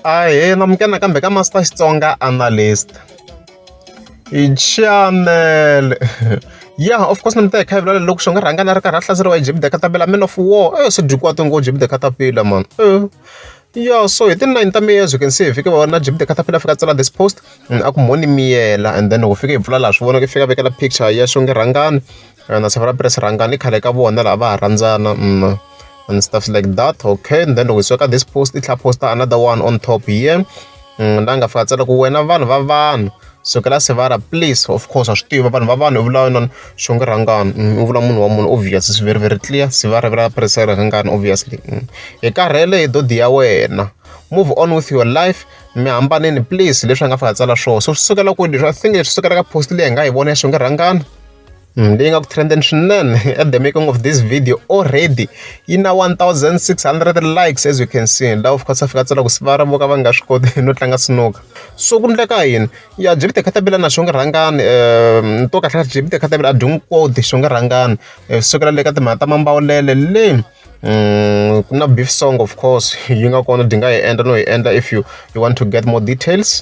ahee namukena kambe ka master xitsonga analyst hi chanele ya of course ni mi ta hi khayivulela loko xi nga rhanga na ri karhi a hlaseriwa hi jebide katapela man of war e swi dyi kwati ngo jebide katapela man ya so hi ti-nine ta miyela as you can see hi fike va na jebide katapela fika tsala this post a ku moni miyela and then loko fike hi pfula laha swi vonaka i fika vekela picture ya xonge rhangani and a safuna press rhangani khale ka vona lava va ha rhandzana mm, and stuff like that okay and then loko hi suka this post i tlhela posta another one on top here mm, la nga fika tsala ku wena vanhu va vanhu sukela sevara please of course wa swi tiva vanhu va vanhu u vula yona xonge rhangani mm, u vula munhu wa munhu obvious swi very very clear sevara vula presa rhangani obviously hi karhele hi dodi ya wena move on with your life mi hambaneni please leswi a nga fika tsala swona so swi sukela kwini leswi i think leswi sukela ka post leyi hi nga yi vona ya xonge rhangani Mm, leyi nga ku trendeni swinene at the making of this video already yi na 1600 likes as you can see la of course afika tsela ku siva ra voka va nga swi koti no tlanga sinuka so ku ndleka yini ya jibite khatabila na xonge rhangani um to kahle jibite khatabila a dyongi koti xonge rhangani eh, sukela le ka timhaka ta mambawulele le um ku na beef song of course yi nga kona di nga yi endla no yi endla if you you want to get more details